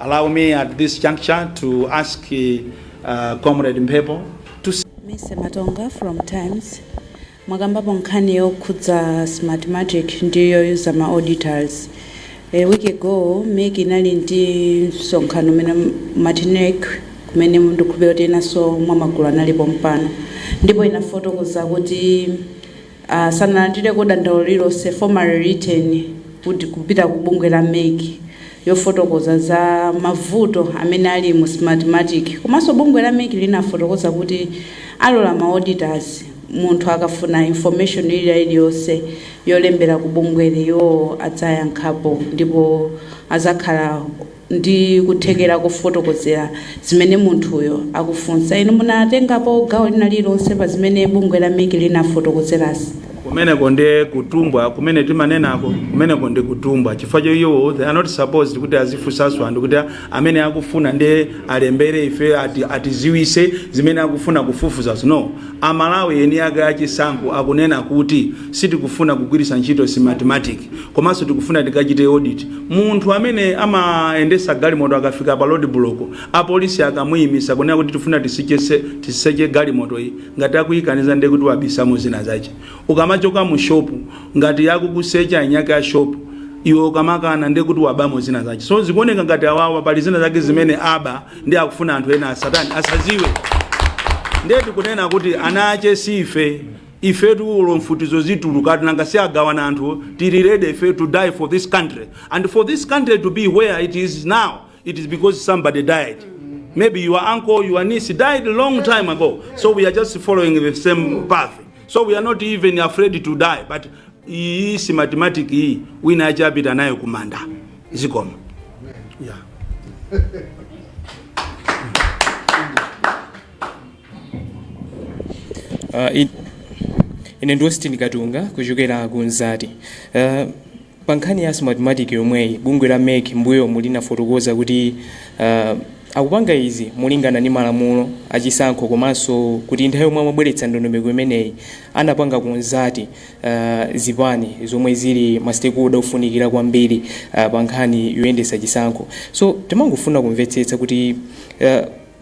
Allow me at this juncture to ask uh, Comrade Mpepo to Mercy Matonga from Times mwakambapo nkhani yokhudza Smartmatic ndi youza ma auditors. A week ago MEC inali ndi msonkhano umene Martinez kumene ndikukhulupirira kuti enanso mwa magulu alipo pompano ndipo inafotokoza kuti silinalandireko dandaulo lililonse, formally written, kud kupita ku bungwe la MEC lofotokoza za mavuto amene ali mu Smartmatic. Komanso bungwe la MEC linafotokoza kuti alola ma auditors munthu akafuna information ilila iliyonse walembera ku bungweli iwowo adzayankhapo ndipo azakhala ndi kuthekera kofotokozera zimene munthuyo akufunsa. Inu munatengapo gawo lina lililonse pa zimene bungwe la MEC linafotokozerazi? Kumeneko nde kutumbwa kumene timanenako, kumeneko nde kutumbwa chifukwa choti iwo they are not supposed kuti azifunsanso anthu kuti amene akufuna nde alembere ife ati, atiziwise zimene akufuna kufufuzazo no, Amalawi eni ake a chisankho akunena kuti sitikufuna kugwiritsa ntchito Smartmatic komanso tikufuna tikachite audit munthu amene amayendetsa galimoto akafika pa roadblock apolisi akamuyimitsa kunena kuti tifuna tiseche galimotoyi ngati akuyikaniza ndiye kuti wabisamo zina zache. Ukamachoka mu shop ngati akukusecha eni ake a shop iwe ukamakana ndiye kuti wabamo zina zache. So zikuoneka ngati awawa pali zina zake zimene abisa. nde akufuna anthu ena asatani asaziwe ndiye tikunena kuti ana ake si ife ife tilipo mfutizo zituluka nanga si agawana anthu tili ready ife to die for this country and for this country to be where it is now it is because somebody died maybe your uncle your niece died a long time ago so we are just following the same path so we are not even afraid to die but iyi Smartmatic iyi wina azapita nayo kumanda zikomo yeah. Uh, in, ine ndi Austin Katunga kuchokera ku Nzati. Uh, pa nkhani ya Smartmatic yomweyi bungwe la MEC mbuyomu linafotokoza kuti uh, akupanga izi molingana ndi malamulo achisankho komanso kuti nthawi yomwe amabweretsa ndondomeko imeneyi anapanga consult zipani zomwe zili ma stakeholder ofunikira kwambiri pa nkhani yoyendetsa chisankho. So timafuna kumvetsetsa kuti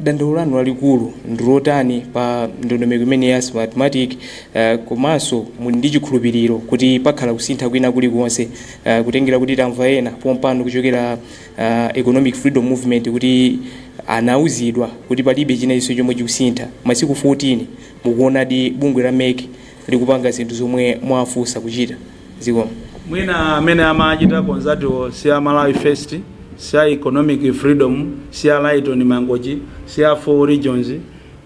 dandaulo lanu lalikulu ndi lotani pa ndondomeko imeneyi ya Smartmatic komanso muli ndi chikhulupiriro kuti pakhala kusintha kwina kulikonse kutengera kuti tamva ena pompano kuchokera Economic Freedom Movement kuti anauzidwa kuti palibe chinachilichonse chomwe chikusintha. Masiku 14 mukuonadi bungwe la MEC ndi kupanga zinthu zomwe mwafuna kuchita. Zikomo. Mwina amene amachita ndi anzathuwo si a Malawi First, si a Economic Freedom, si a Lyton Mangochi, si a Four Regions,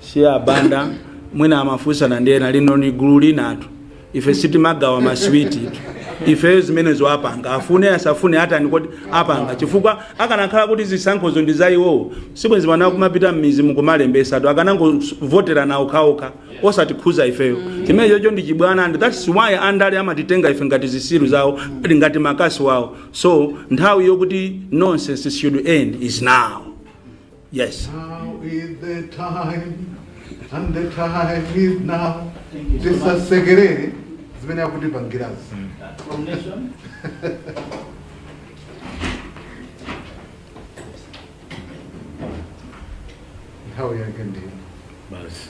si a Banda, mwina amafunsana ndi ena lino ni gulu linatu. Ife sitimagawa maswiti itu. Ifeyo zimenezo apanga afune asafune atani kodi apanga chifukwa akanakhala kuti zisankhozo ndi za iwowo sibwenzi pano akumapita m'mizi mukumalembesatu akanangovotera nawo okhaokha osatikhuza ifeyo chimenechocho ndi chibwana and that's why andale amatitenga ife ngati zisiru zawo ngati makasu awo so nthawi yokuti nonsense should end is now yes Now is the time, and the time is now. Tisasekerere zimene akutipangirazi. nthawi yake ndi basi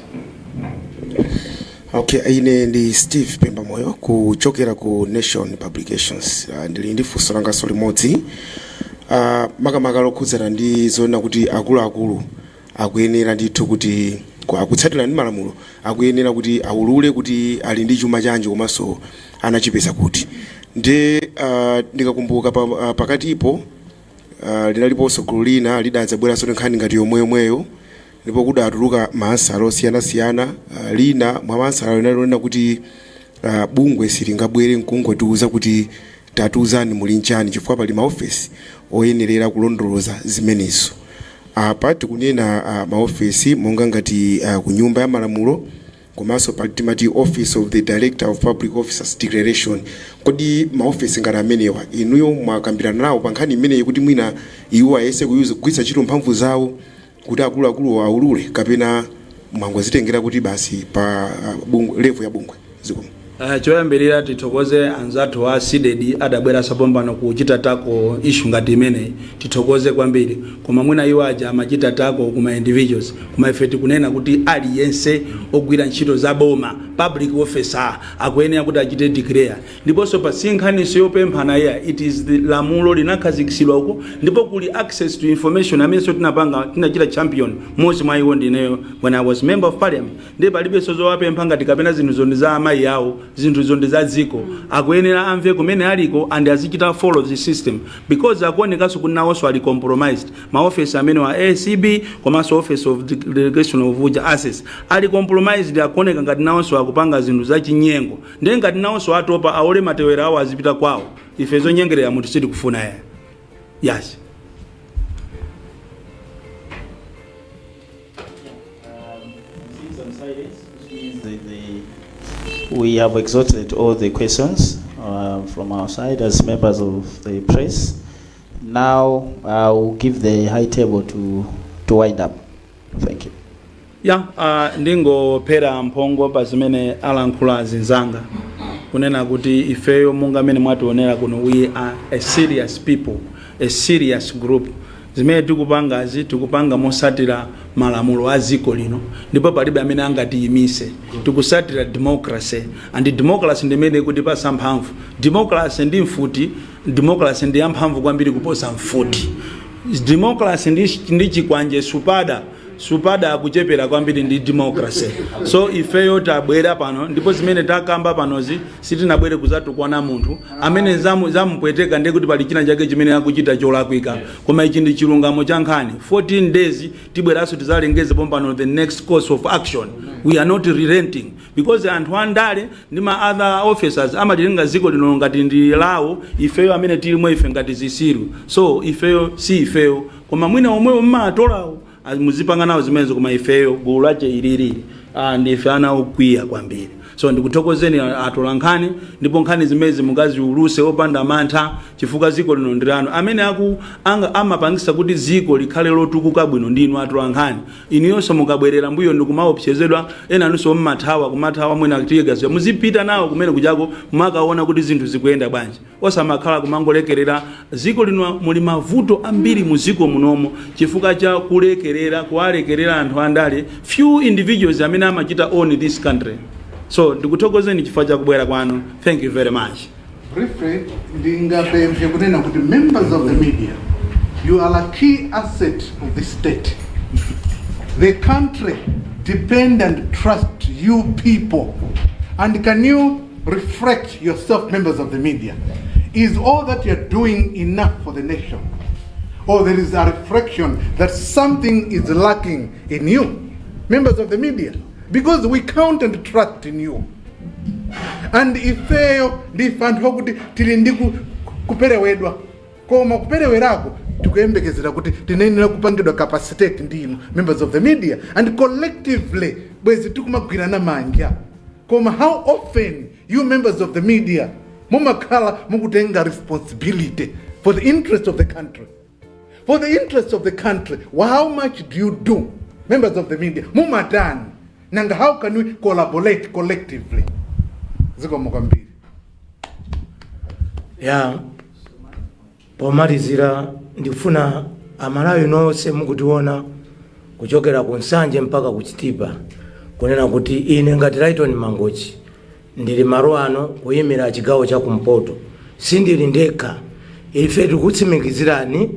okay ine ndi steve pembamoyo kuchokera ku nation publications uh, ndili ndi funso langaso limodzi uh, makamaka lokhudzana ndi zonena kuti akuluakulu akuyenera ndithu kuti ku- akutsatira ndi malamulo akuyenera kuti aulule kuti ali ndi chuma chanji komanso anachipeza kuti ndi uh, ndikakumbuka pa, uh, pakatipo Uh, lidaliponso gulu lina lidadzabweranso ndi nkhani ngati yomweyomweyo ndipo kudatuluka maansala osiyanasiyana uh, lina mwa maansala linali lonena kuti uh, bungwe silingangobwera nkungotiuza kuti tatiuzani muli nchani chifukwa pali maofesi oyenerera kulondoloza zimenezo apa tikunena uh, maofesi monga ngati uh, ku nyumba ya malamulo Komanso pa timati Office of the Director of Public Officers Declaration, kodi maofesi ngati amenewa inuyo mwakambirana nawo pa nkhani imeneyi kuti mwina iwo ayese kugwiritsa ntchito mphamvu zawo kuti akuluakuluwo awulule kapena mwangozitengera kuti basi pa bungwe, level ya bungwe? Zikomo. Uh, choyambirira tithokoze anzathu a CDEDI adabweranso pompano kuchita tackle issue ngati imeneyi tithokoze kwambiri koma mwina iwo aja amachita tackle kuma individuals koma ife tikunena kuti aliyense ogwira ntchito za boma public officer akuyenera kuti achite declare ndiponso apa si nkhaninso yopemphana iyayi it is the lamulo linakhazikitsidwa uko ndipo kuli access to information amenenso tinapanga tinachita champion mmodzi mwa iwo ndineyo when i was member of parliament Ndiye palibenso zowapempha ngati kapena zinthuzo ndi za amayi awo, zinthuzo ndi za dziko. Akuyenera amve kumene aliko and azichita follow the system because akuonekanso kuti nawonso ali compromised. Ma office amenewa a ACB komanso office of the declaration of uja, assets, ali compromised akuoneka ngati nawonso akupanga zinthu za chinyengo. Ndiye ngati nawonso atopa aole matewera awo azipita kwawo. Ife zonyengerera munthu sitikufuna iyayi. Yes. We have exhausted all the questions uh, from our side as members of the press. Now I will give the high table to, to wind up. Thank you. ya uh, ndingophera mphongo pa zimene alankhulo azinzanga kunena kuti ifeyo monga amene mwationera kuno we are a serious people a serious group Zimene tikupangazi tikupanga mosatira malamulo a dziko lino ndipo palibe amene angatiyimise tikusatira democracy and democracy ndimene ikutipasa mphamvu democracy ndi mfuti democracy ndiyamphamvu kwambiri kuposa mfuti democracy ndi chikwanje supada supada akuchepera kwambiri ndi democracy so ifeyo tabwera pano ndipo zimene takamba panozi sitinabwere kuzatukwana munthu amene zamupweteka ndiye kuti pali china chake chimene akuchita cholakwika koma ichi ndi chilungamo cha nkhani 14 days tibweranso tizalengeze pompano the next course of action we are not relenting because anthu andale ndi ma other officers amalitenga ziko lino ngati ndi lawo ifeyo amene tilimo ife ngati zisiru so ifeyo si ifeyo Koma mwina omwewo mumawatolawo muzipanga nawo zimenezo koma ifeyo gulu lake ili ah, ndife anthu okwiya kwambiri so ndikuthokozeni a- atola nkhani ndipo nkhani zimezi mukaziuluse opanda mantha chifukwa ziko lino ndi lanu amene amapangisa kuti ziko likhale lotukuka bwino ndi inu atola nkhani inuyonso mukabwerera mbuyo nkumaopsezedwa enanunso mmathawa kumathawa mwina tiyegaziwa muzipita nawo kumene kujako mumakaona kuti zinthu zikuyenda bwanji osamakhala kumangolekerera ziko lino muli mavuto ambiri mu ziko munomo chifukwa cha kulekerera kuwalekerera anthu andale few individuals amene amachita own this country so ndikuthokozeni chifukwa cha kubwera kwanu thank you very much Briefly, ndingapemphe kunena kuti members of the media, you are a key asset of the state. The country depend and trust you people. And can you Reflect yourself, members of the media. Is all that you're doing enough for the nation? Or there is a reflection that something is lacking in you, members of the media? Because we count and trust in you. And ifeyo ndife anthu akuti tili ndi kuperewedwa koma kuperewerako tikuyembekezera kuti tinayenera kupangidwa capacitate ndi inu members of the media and collectively bwezi tikumagwirana manja Koma how often you members of the media mumakhala mukutenga responsibility for the interest of the country for the interest of the country Wha- how much do you do members of the media mumatani nanga how can we collaborate collectively zikomo kwambiri ya Pomalizira ndikufuna a Malawi nonse mukutiona kuchokera ku Nsanje mpaka ku Chitipa kunena kuti ine ngati Lyton Mangochi ndili malo ano kuyimira chigawo cha kumpoto sindili ndekha ife tikutsimikizirani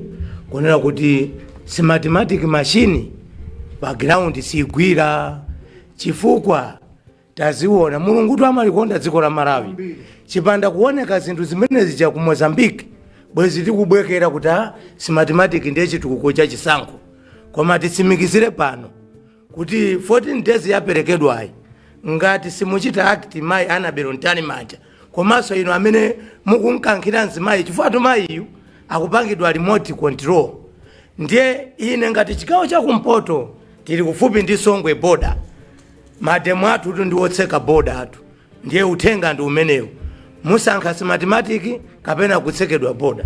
kunena kuti smartmatic machine pa ground sigwira chifukwa taziona mulungutu amalikonda dziko la malawi chipanda kuoneka zinthu zimene zija ku mozambique bwezi tikubwekera kuti a smartmatic ndiye chitukuko cha chisankho koma titsimikizire pano kuti 14 days yaperekedwayi ngati simuchita act mayi annabel mtalimanja komanso inu amene mukunkankhira mzimayi chifukwatu mayiyu akupangidwa remote control ndiye ine ngati chigawo chakumpoto tili kufupi ndi songwe boda mademo athutu ndi otseka boda athu ndiye uthenga ndi umenewu musankha smartmatic kapena kutsekedwa boda